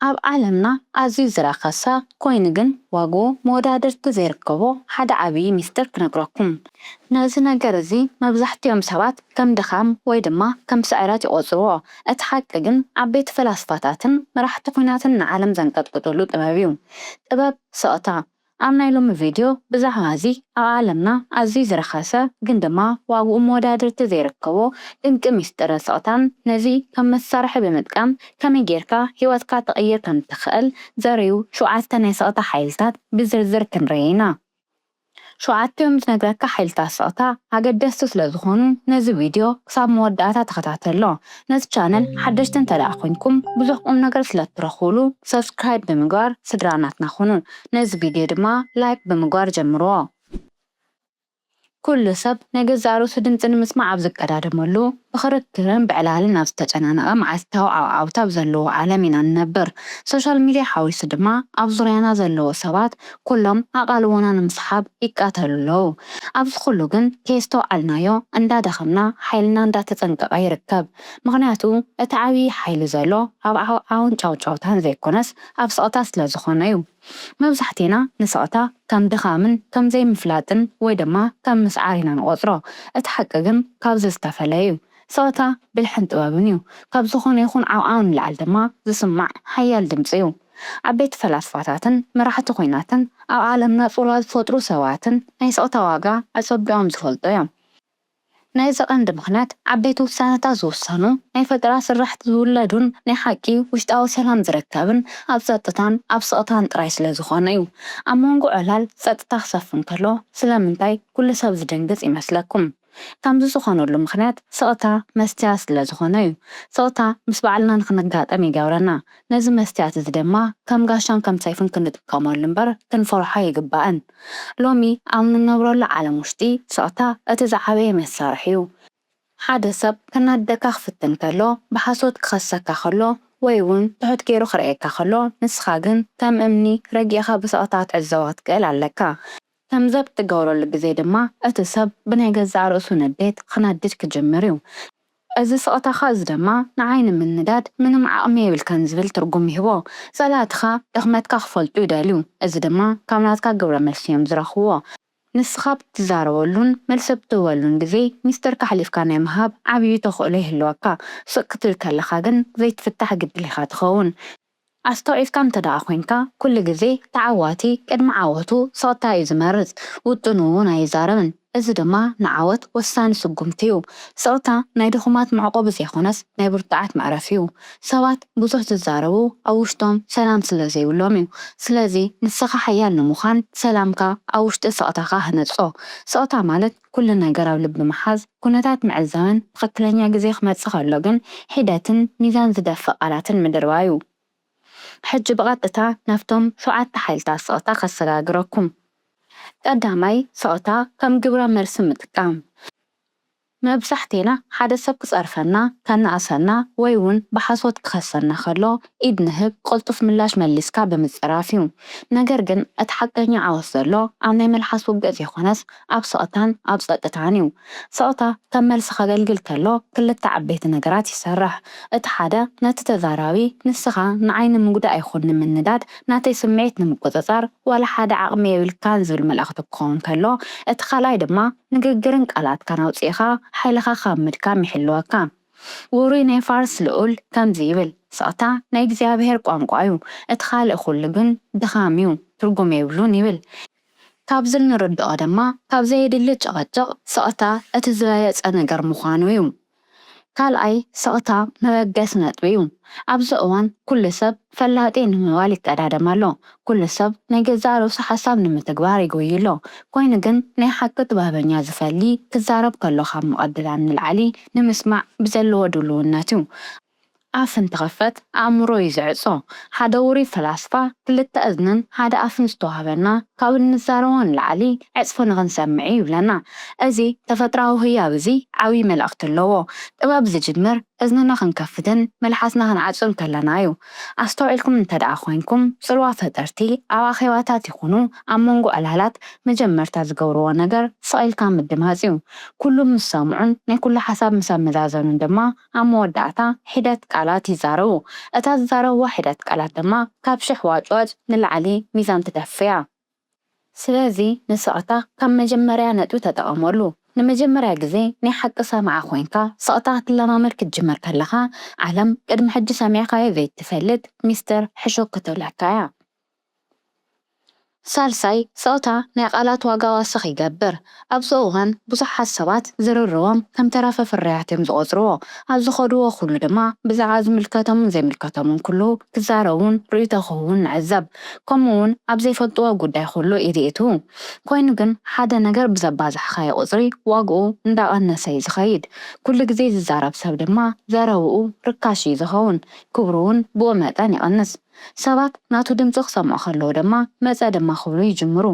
ኣብ ዓለምና ኣዝዩ ዝረኸሰ ኮይኑ ግን ዋግኡ መወዳድርቲ ዘይርከቦ ሓደ ዓብዪ ሚስጥር ክነግረኩም። ነዚ ነገር እዚ መብዛሕቲኦም ሰባት ከም ድኻም ወይ ድማ ከም ስዕረት ይቖጽርዎ። እቲ ሓቂ ግን ዓበይቲ ፈላስፋታትን መራሕቲ ኩናትን ንዓለም ዘንቀጥቅጥሉ ጥበብ እዩ። ጥበብ ስቕታ። ኣብ ናይ ሎሚ ቪድዮ ብዛዕባ እዚ ኣብ ዓለምና ኣዝዩ ዝረኸሰ ግን ድማ ዋግኡ መወዳድርቲ ዘይርከቦ ድንቂ ሚስጥርን ስቕታን ነዚ ከም መሳርሒ ብምጥቃም ከመይ ጌርካ ህይወትካ ትቕይር ከም እትኽእል ዘርእዩ ሸውዓተ ናይ ስቕታ ሓይልታት ብዝርዝር ክንርኢ ኢና። ሸውዓቲኦም ዝነግረካ ሓይልታት ስቕታ ኣገደስቲ ስለዝኾኑ ነዚ ቪድዮ ክሳብ መወዳእታ ተኸታተሎ። ነዚ ቻነል ሓደሽቲ እንተ ደኣ ኮንኩም ብዙሕ ቁም ነገር ስለ ትረኽቡሉ subscribe ብምግባር ስድራ ናትና ኩኑ ነዚ ቪድዮ ድማ like ብምግባር ጀምርዎ ኩሉ ሰብ ናይ ገዛእ ርእሱ ድምጺ ንምስማዕ ኣብ ዝቀዳደመሉ ብኽርክርን ብዕላልን ኣብ ዝተጨናነቐ መዓልታዊ ዓውዓውታ ኣብ ዘለዎ ዓለም ኢና ንነብር ሶሻል ሚድያ ሓዊሱ ድማ ኣብ ዙርያና ዘለዉ ሰባት ኩሎም ኣቓልቦና ንምስሓብ ይቃተሉ ኣለዉ። ኣብዚ ኩሉ ግን ከየስተውዓልናዮ እንዳደኸምና ሓይልና እንዳተጸንቀቐ ይርከብ። ምኽንያቱ እቲ ዓብዪ ሓይሊ ዘሎ ኣብ ዓውዓውን ጫውጫውታን ዘይኮነስ ኣብ ስቕታ ስለ ዝኾነ'ዩ። መብዛሕቴና ንስቕታ ከም ድኻምን ከም ዘይምፍላጥን ወይ ድማ ከም ምስዓር ኢና ንቖጽሮ። እቲ ሓቂ ግን ካብዚ ዝተፈለ'ዩ። ጸወታ ብልሕን ጥበብን እዩ። ካብ ዝኾነ ይኹን ዓውዓው ንላዕሊ ድማ ዝስማዕ ሓያል ድምጺ እዩ። ዓበይቲ ፈላስፋታትን መራሕቲ ኲናትን ኣብ ዓለምና ጽልዋ ዝፈጥሩ ሰባትን ናይ ስቕታ ዋጋ ኣጸቢቖም ዝፈልጡ እዮም። ናይዚ ቀንዲ ምኽንያት ዓበይቲ ውሳነታት ዝውሰኑ፣ ናይ ፈጠራ ስራሕቲ ዝውለዱን ናይ ሓቂ ውሽጣዊ ሰላም ዝርከብን ኣብ ጸጥታን ኣብ ስቕታን ጥራይ ስለ ዝኾነ እዩ። ኣብ መንጎ ዕላል ጸጥታ ክሰፍን ከሎ ስለምንታይ ኩሉ ሰብ ዝድንግጽ ይመስለኩም? ከምዚ ዝኾነሉ ምኽንያት ስቕታ መስትያት ስለ ዝኾነ ዩ። ስቕታ ምስ ባዕልና ንኽንጋጠም ይገብረና። ነዚ መስትያት እዚ ድማ ከም ጋሻን ከም ሰይፍን ክንጥቀመሉ እምበር ክንፈርሖ ኣይግባእን። ሎሚ ኣብ ንነብረሉ ዓለም ውሽጢ ስቕታ እቲ ዝዓበየ መሳርሒ ዩ። ሓደ ሰብ ከናድደካ ክፍትን ከሎ፣ ብሓሶት ክኸሰካ ከሎ ወይ ውን ትሑት ገይሩ ክርእየካ ከሎ ንስኻ ግን ከም እምኒ ረጊእኻ ብስቕታ ክትዕዘቦ ክትክእል ኣለካ። ከምዚ ኣብ እትገብረሉ ግዜ ድማ እቲ ሰብ ብናይ ገዛእ ርእሱ ንዴት ኽነድድ ክጅምር እዩ። እዚ ስቕታኻ እዚ ድማ ንዓይ ንምንዳድ ምንም ዓቕሚ የብልካን ዝብል ትርጕም ይህቦ። ጸላእትኻ ድኽመትካ ኽፈልጡ ይደልዩ፣ እዚ ድማ ካብ ናትካ ግብረ መልሲ እዮም ዝረኽብዎ። ንስኻ ኣብ እትዛረበሉን መልሲ ኣብ እትህበሉን ግዜ ምስጢርካ ኣሕሊፍካ ናይ ምሃብ ዓብዪ ተኽእሎ ይህልወካ። ስቕ ክትብል ከለኻ ግን ዘይትፍታሕ ግድል ኢኻ ትኸውን። ኣስተውዒልካ እንተድኣ ኮይንካ ኩሉ ግዜ ተዓዋቲ ቅድሚ ዓወቱ ስቕታ እዩ ዝመርጽ፣ ውጥኑ እውን ኣይዛረብን። እዚ ድማ ንዓወት ወሳኒ ስጉምቲ እዩ። ስቕታ ናይ ድኹማት መዕቆቢ ዘይኮነስ ናይ ብርቱዓት መዕረፊ እዩ። ሰባት ብዙሕ ዝዛረቡ ኣብ ውሽጦም ሰላም ስለ ዘይብሎም እዩ። ስለዚ ንስኻ ሓያል ንምዃን ሰላምካ ኣብ ውሽጢ ስቕታኻ ህነጾ። ስቕታ ማለት ኩሉ ነገር ኣብ ልቢ ምሓዝ፣ ኩነታት ምዕዛብን ትኽክለኛ ግዜ ክመጽእ ከሎ ግን ሒደትን ሚዛን ዝደፍእ ቃላትን ምድርባዩ። ሕጂ ብቐጥታ ናብቶም ሸውዓተ ሓይልታት ስቕታ ከሰጋግረኩም። ቀዳማይ፣ ስቕታ ከም ግብረ መልሲ ምጥቃም። መብዛሕቴና ሓደ ሰብ ክጸርፈና፣ ከነኣእሰና ወይ ውን ብሓሶት ክኸሰና ከሎ ኢድ ንህብ፣ ቅልጡፍ ምላሽ መሊስካ ብምጽራፍዩ። ነገር ግን እቲ ሓቀኛ ዓወት ዘሎ ኣብ ናይ መልሓስ ውግእ ዘይኮነስ ኣብ ስቕታን ኣብ ጸጥታን እዩ። ስቕታ ከም መልሲ ከገልግል ከሎ ክልተ ዓበይቲ ነገራት ይሰርሕ። እቲ ሓደ ነቲ ተዛራቢ ንስኻ ንዓይ ንምጉዳእ ይኹን ንምንዳድ ናተይ ስምዒት ንምቁጽጻር ዋላ ሓደ ዓቕሚ የብልካን ዝብል መልእኽቲ ክኸውን ከሎ እቲ ካልኣይ ድማ ንግግርን ቃላትካን ኣውጺእኻ ሓይልኻ ካብ ምድካም ይሕልወካ። ውሩይ ናይ ፋርስ ልኡል ከምዚ ይብል፣ ስቕታ ናይ እግዚኣብሄር ቋንቋ እዩ፣ እቲ ካልእ ኩሉ ግን ድኻም እዩ፣ ትርጉም የብሉን ይብል። ካብዚ እንርድኦ ድማ ካብ ዘየድሊ ጭቕጭቕ ስቕታ እቲ ዝበለጸ ነገር ምዃኑ እዩ። ካልኣይ ስቕታ መበገሲ ነጥቢ እዩ። ኣብዚ እዋን ኩሉ ሰብ ፈላጢ ንምባል ይቀዳደም ኣሎ፣ ኩሉ ሰብ ናይ ገዛእ ርእሱ ሓሳብ ንምትግባር ይጎዪ ኣሎ፣ ኮይኑ ግን ናይ ሓቂ ጥበበኛ ዝፈሊ ክዛረብ ከሎ ካብ ምቕድዳም ንልዓሊ ንምስማዕ ብዘለዎ ድሉውነት እዩ። ኣፍ እንትኽፈት ኣእምሮ እዩ ዝዕጾ። ሓደ ውሩይ ፈላስፋ ክልተ እዝንን ሓደ ኣፍን ዝተዋህበና ካብ እንዛረቦ ንላዕሊ ዕጽፊ ንኽንሰምዕ'ዩ ይብለና። እዚ ተፈጥራዊ ህያብ እዚ ዓብይ መልእኽቲ ኣለዎ። ጥበብ ዝጅምር እዝንና ክንከፍትን መልሓስና ክንዓጹን ከለና'ዩ። ኣስተውዒልኩም እንተድኣ ኮይንኩም ጽልዋ ፈጠርቲ ኣብ ኣኼባታት ይኹኑ ኣብ መንጎ ዕላላት መጀመርታ ዝገብርዎ ነገር ስቕ ኢልካ ምድማጽ'ዩ። ኩሉ ምስ ሰምዑን ናይ ኩሉ ሓሳብ ምስ ኣመዛዘኑን ድማ ኣብ መወዳእታ ሒደት ቃላት ይዛረቡ። እታ ዝዛረብዋ ሒደት ቃላት ድማ ካብ ሽሕ ዋጭዋጭ ንላዕሊ ሚዛን ትደፍእ እያ። ስለዚ ንስቕታ ከም መጀመርያ ነጥቢ ተጠቐመሉ። ንመጀመርያ ግዜ ናይ ሓቂ ሰማዒ ኮይንካ ስቕታ ክትለማመድ ክትጅምር ከለኻ፣ ዓለም ቅድሚ ሕጂ ሰሚዕካዮ ዘይትፈልጥ ሚስጥር ሕሹኽ ክትብለካ እያ። ሳልሳይ ስቕታ ናይ ቃላት ዋጋ ወሰኽ ይገብር። ኣብዚ እዋን ብዙሓት ሰባት ዝርርቦም ከም ተረፈ ፍርያት እዮም ዝቖጽርዎ። ኣብ ዝኸድዎ ኩሉ ድማ ብዛዕባ ዝምልከቶምን ዘይምልከቶምን ኩሉ ክዛረቡን ርእይቶ ክህቡን ንዕዘብ። ከምኡ'ውን ኣብ ዘይፈልጥዎ ጉዳይ ኩሉ ኢድ የእትዉ። ኮይኑ ግን ሓደ ነገር ብዘባዛሕካዮ ቁጽሪ ዋግኡ እንዳቐነሰ'ዩ ዝኸይድ። ኩሉ ግዜ ዝዛረብ ሰብ ድማ ዘረብኡ ርካሽ'ዩ ዝኸውን፣ ክብሩ'ውን ብኡ መጠን ይቕንስ። ሰባት ናቱ ድምጺ ክሰምዑ ከለዉ ድማ መጸ ድማ ክብሉ ይጅምሩ።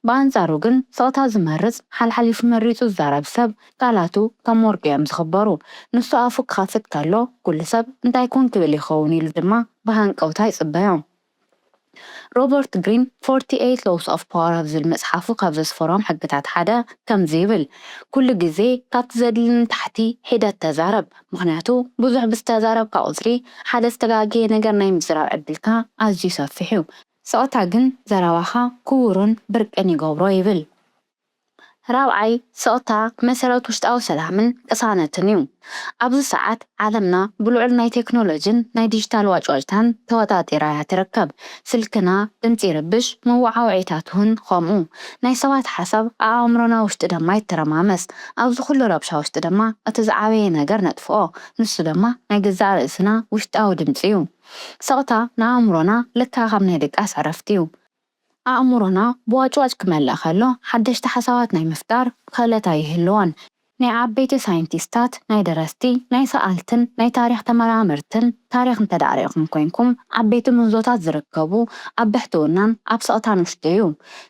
ብኣንጻሩ ግን ስቕታ ዝመርጽ፣ ሓልሓሊፉ መሪጹ ዝዛረብ ሰብ ቃላቱ ከም ወርቂ እዮም ዝኽበሩ። ንሱ ኣፉ ክኸፍት ከሎ ኩሉ ሰብ እንታይ ኮን ክብል ይኸውን ኢሉ ድማ ብሃንቀውታ ይጽበዮ። ሮበርት ግሪን ፎርቲ ኤይት ሎውስ ኦፍ ፓወር ኣብ ዝብል መጽሓፉ ካብ ዘስፈሮም ሕግታት ሓደ ከምዚ ይብል፣ ኩሉ ግዜ ካብቲ ዘድሊ ንታሕቲ ሒደት ተዛረብ። ምኽንያቱ ብዙሕ ብዝተዛረብካ ቁጽሪ ሓደ ዝተጋገየ ነገር ናይ ምዝራብ ዕድልካ ኣዝዩ ሰፊሕ እዩ። ስቕታ ግን ዘረባኻ ክቡርን ብርቅን ይገብሮ ይብል። ራብዓይ፣ ስቕታ መሰረት ውሽጣዊ ሰላምን ቅሳነትን እዩ። ኣብዚ ሰዓት ዓለምና ብልዑል ናይ ቴክኖሎጂን ናይ ዲጂታል ዋጭዋጭታን ተወጣጢራ እያ ትርከብ። ስልክና ድምጺ ይርብሽ መወዓውዒታትውን ኸምኡ ናይ ሰባት ሓሳብ ኣኣእምሮና ውሽጢ ደማ ይተረማመስ ኣብዚ ኹሉ ረብሻ ውሽጢ ደማ እቲ ዝዓበየ ነገር ነጥፍኦ ንሱ ደማ ናይ ገዛእ ርእስና ውሽጣዊ ድምጺ ዩ ስቕታ ንኣእምሮና ልክዕ ከም ናይ ድቃስ ዕረፍቲ ዩ ኣእምሮና ብዋጭዋጭ ክመልእ ኸሎ ሓደሽቲ ሓሳባት ናይ ምፍጣር ኽእለት ኣይህልዎን ናይ ዓበይቲ ሳይንቲስታት፣ ናይ ደረስቲ፣ ናይ ሰኣልትን ናይ ታሪኽ ተመራመርትን ታሪኽ እንተድኣ ርኢኹም ኮይንኩም፣ ዓበይቲ ምህዞታት ዝርከቡ ኣብ ብሕትውናን ኣብ ስቕታን ውሽጢ'ዩ።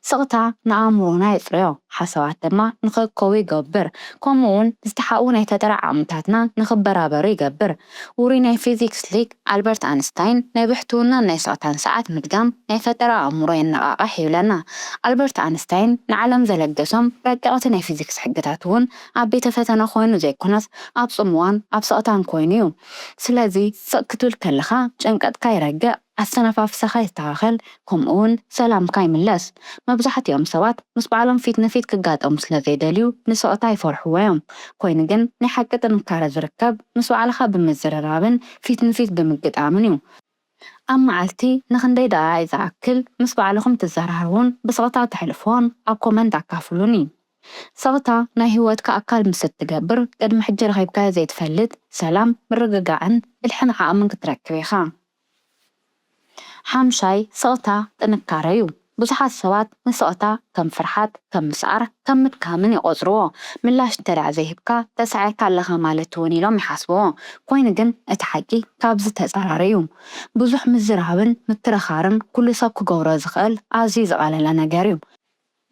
ስቕታ ንኣእምሮና የጽርዮ፣ ሓሳባት ድማ ንኸእከቡ ይገብር፣ ከምኡ'ውን ዝተሓብኡ ናይ ፈጠራ ዓቕምታትና ንኽበራበሩ ይገብር። ውሩይ ናይ ፊዚክስ ሊቅ፣ ኣልበርት ኣንስታይን ናይ ብሕትውናን ናይ ስቕታን ሰዓት ምድጋም ናይ ፈጠራ ኣእምሮ የነቓቕሕ ይብለና። ኣልበርት ኣንስታይን ንዓለም ዘለገሶም ረቀቕቲ ናይ ፊዚክስ ሕግታት እውን ኣብ ቤተ ፈተነ ኮይኑ ዘይኮነስ ኣብ ጽምዋን ኣብ ስቕታን ኮይኑ እዩ። ስለዚ ስቕ ክትብል ከለኻ ጭንቀትካ ይረግእ፣ ኣተነፋፍሳኻ ይስተኻኸል፣ ከምኡውን ሰላምካ ይምለስ። መብዛሕትኦም ሰባት ምስ ባዕሎም ፊት ንፊት ክጋጠሙ ስለ ዘይደልዩ ንስቕታ ይፈርሕዎ ኢዮም። ኰይኑ ግን ናይ ሓቂ ጥንካረ ዝርከብ ምስ ባዕልኻ ብምዝርራብን ፊት ንፊት ብምግጣምን ኢዩ። ኣብ መዓልቲ ንኽንደይ ደቓይቕ ዝኣክል ምስ ባዕልኹም ትዘራረቡን ብስቕታ ተሕልፍዎን ኣብ ኮመንት ኣካፍሉኒ። ስቕታ ናይ ህይወትካ ኣካል ምስ እትገብር ቅድሚ ሕጂ ረኺብካዮ ዘይትፈልጥ ሰላም፣ ምርግጋዕን ብልሕን ዓቕምን ክትረክብ ኢኻ። ሓምሻይ፣ ስቕታ ጥንካረ'ዩ። ብዙሓት ሰባት ንስቕታ ከም ፍርሓት፣ ከም ምስዓር፣ ከም ምድካምን ይቖጽርዎ። ምላሽ እንተድኣ ዘይሂብካ ተሳዒርካ ኣለኻ ማለት'ውን ኢሎም ይሓስብዎ። ኮይኑ ግን እቲ ሓቂ ካብዚ ተጻራሪ'ዩ። ብዙሕ ምዝራብን ምክርኻርን ኩሉ ሰብ ክገብሮ ዝኽእል ኣዝዩ ዝቐለለ ነገር'ዩ።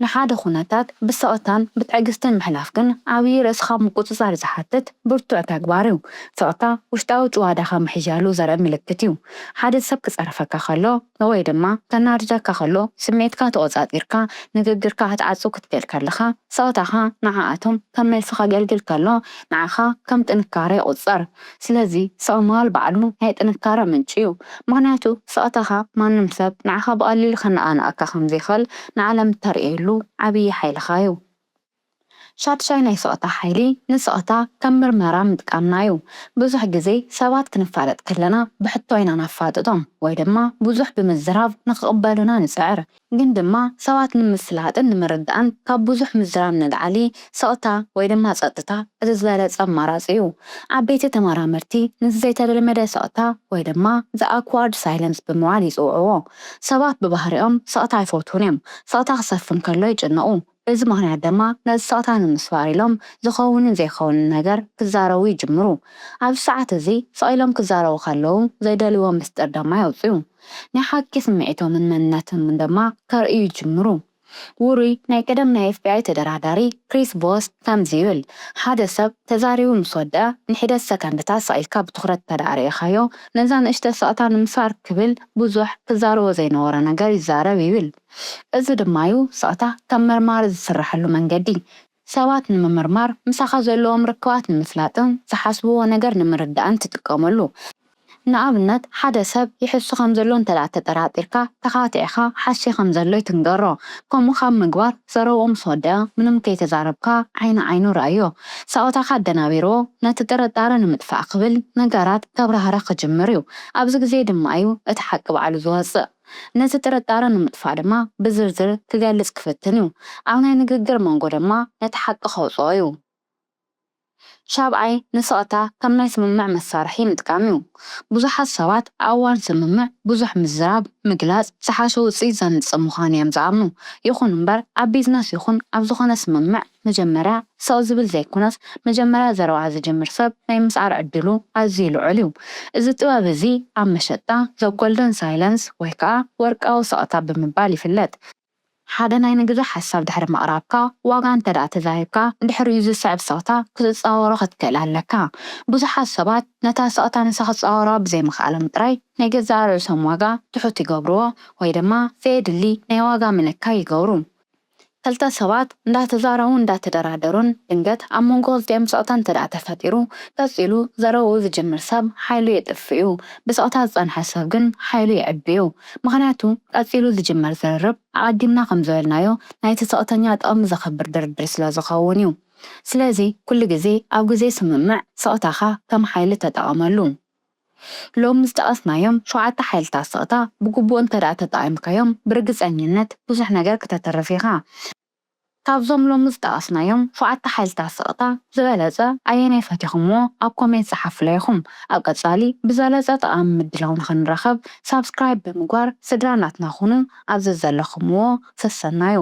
ንሓደ ኩነታት ብስቕታን ብትዕግስትን ምሕላፍ ግን ዓብዪ ርእስኻ ምቁጽጻር ዝሓትት ብርቱዕ ተግባር እዩ። ስቕታ ውሽጣዊ ጭዋዳኻ ምሕያሉ ዘርኢ ምልክት እዩ። ሓደ ሰብ ክጸርፈካ ከሎ ወይ ድማ ከናድደካ ከሎ ስምዒትካ ተቖጻጺርካ ንግግርካ ክትዓጹ ክትክእል ከለኻ ስቕታኻ ንዓኣቶም ከም መልሲ ከገልግል ከሎ ንዓኻ ከም ጥንካረ ይቑጸር። ስለዚ ስቕ ምባል ባዕሉ ናይ ጥንካረ ምንጪ እዩ። ምኽንያቱ ስቕታኻ ማንም ሰብ ንዓኻ ብቐሊሉ ከነቓንቐካ ከም ዘይክእል ንዓለም እተርእየሉ ዓብዪ ሓይልኻ እዩ። ሻድሻይ ናይ ስቕታ ሓይሊ ንስቕታ ከም ምርመራ ምጥቃምና እዩ። ብዙሕ ግዜ ሰባት ክንፋለጥ ከለና ብሕቶ ኢና ነፋጥጦም ወይ ድማ ብዙሕ ብምዝራብ ንኽቕበሉና ንጽዕር። ግን ድማ ሰባት ንምፍላጥን ንምርዳእን ካብ ብዙሕ ምዝራብ ንላዕሊ ስቕታ ወይ ድማ ጸጥታ እቲ ዝበለጸ ኣማራጺ እዩ። ዓበይቲ ተመራመርቲ ነዚ ዘይተለመደ ስቕታ ወይ ድማ The Awkward Silence ብምባል ይጽውዕዎ። ሰባት ብባህሪኦም ስቕታ ኣይፈትዉን እዮም። ስቕታ ክሰፍን ከሎ ይጭነቑ። በዚ ምኽንያት ደማ ነዚ ስቕታ ንምስባር ኢሎም ዝኸውንን ዘይኸውንን ነገር ክዛረቡ ይጅምሩ። ኣብዚ ሰዓት እዚ ስቕ ኢሎም ክዛረቡ ከለዉ ዘይደልይዎ ምስጢር ደማ የውጽኡ። ናይ ሓቂ ስምዒቶምን መንነቶምን ደማ ከርእዩ ይጅምሩ። ውሩይ ናይ ቀደም ናይ ኤፍቢኣይ ተደራዳሪ ክሪስ ቮስ ከምዚ ይብል፣ ሓደ ሰብ ተዛሪቡ ምስ ወድኣ ንሒደት ሰከንድታት ስቕ ኢልካ ብትኹረት እንተድኣ ርኢኻዮ፣ ነዛ ንእሽቶ ስቕታ ንምስባር ክብል ብዙሕ ክዛረቦ ዘይነበሮ ነገር ይዛረብ ይብል። እዚ ድማ'ዩ ስቕታ ከም መርማሪ ዝስርሓሉ መንገዲ። ሰባት ንምምርማር፣ ምሳኻ ዘለዎም ርክባት ንምፍላጥን ዝሓስብዎ ነገር ንምርዳእን ትጥቀመሉ። ንኣብነት ሓደ ሰብ ይሕሱ ከም ዘሎ እንተድኣ ተጠራጢርካ፣ ተኻቲዕካ ሓስየ ከም ዘሎይ ትንገሮ። ከምኡ ካብ ምግባር ዘረብኡ ምስ ወደኣ ምንም ከይተዛረብካ ዓይኒ ዓይኑ ርኣዮ። ስቕታኻ ኣደናቢርዎ ነቲ ጥርጣረ ንምጥፋእ ክብል ነገራት ከብራህርህ ክጅምር'ዩ። ኣብዚ ግዜ ድማ'ዩ እቲ ሓቂ ባዕሉ ዝወጽእ። ነዚ ጥርጣረ ንምጥፋእ ድማ ብዝርዝር ክገልጽ ክፍትን እዩ። ኣብ ናይ ንግግር መንጎ ድማ ነቲ ሓቂ ከውጽኦ እዩ። ሻብዓይ፣ ንስቕታ ከም ናይ ስምምዕ መሳርሒ ምጥቃም እዩ። ብዙሓት ሰባት ኣብ እዋን ስምምዕ ብዙሕ ምዝራብ፣ ምግላጽ፣ ዝሓሸ ውጽኢት ዘምጽእ ምዃኑ እዮም ዝኣምኑ። ይኹን እምበር ኣብ ቢዝነስ ይኹን ኣብ ዝኾነ ስምምዕ፣ መጀመርያ ስቕ ዝብል ዘይኩነስ መጀመርያ ዘረባ ዝጅምር ሰብ ናይ ምስዓር ዕድሉ ኣዝዩ ልዑል እዩ። እዚ ጥበብ እዚ ኣብ መሸጣ The Golden Silence ወይ ከኣ ወርቃዊ ስቕታ ብምባል ይፍለጥ። ሓደ ናይ ንግዲ ሓሳብ ድሕሪ ምቕራብካ፣ ዋጋ እንተድኣ ተዛሪብካ፣ ድሕሪኡ ዝስዕብ ስቕታ ክትጻወሮ ክትክእል ኣለካ። ብዙሓት ሰባት ነታ ስቕታ ንሳ ክጻወሩዋ ብዘይምኽኣሎም ጥራይ ናይ ገዛእ ርእሶም ዋጋ ትሑት ይገብሩዎ ወይ ድማ ዘየድሊ ናይ ዋጋ ምንካይ ይገብሩ። ክልተ ሰባት እንዳተዛረቡን እንዳተደራደሩን ድንገት ኣብ መንጎ ክልቲኦም ስቕታ እንተድኣ ተፈጢሩ፣ ቀጺሉ ዘረብኡ ዝጅምር ሰብ ሓይሉ የጥፍእ'ዩ፣ ብስቕታ ዝጸንሐ ሰብ ግን ሓይሉ የዕቢ'ዩ። ምኽንያቱ ቀጺሉ ዝጅመር ዝርርብ ኣቐዲምና ከም ዝበልናዮ ናይቲ ስቕተኛ ጥቕሚ ዘኽብር ድርድር ስለ ዝኸውን'ዩ። ስለዚ ኩሉ ግዜ ኣብ ግዜ ስምምዕ ስቕታኻ ከም ሓይሊ ተጠቐመሉ። ሎሚ ዝጠቐስናዮም ሸውዓተ ሓይልታት ስቕታ ብግቡእ እንተድኣ ተጠቒምካዮም ብርግጸኝነት ብዙሕ ነገር ክተትርፍ ኢኻ። ካብዞም ሎሚ ዝጠቐስናዮም ሸውዓተ ሓይልታት ስቕታ ዝበለጸ ኣየናይ ፈቲኹምዎ ኣብ ኮሜንት ጸሓፉላይ ኢኹም። ኣብ ቀጻሊ ብዝበለጸ ጠቓሚ ምድላው ንኽንራኸብ ሳብስክራይብ ብምግባር ስድራ ናትና ኩኑ ኣብ ዘዘለኹምዎ ሰሰናዩ።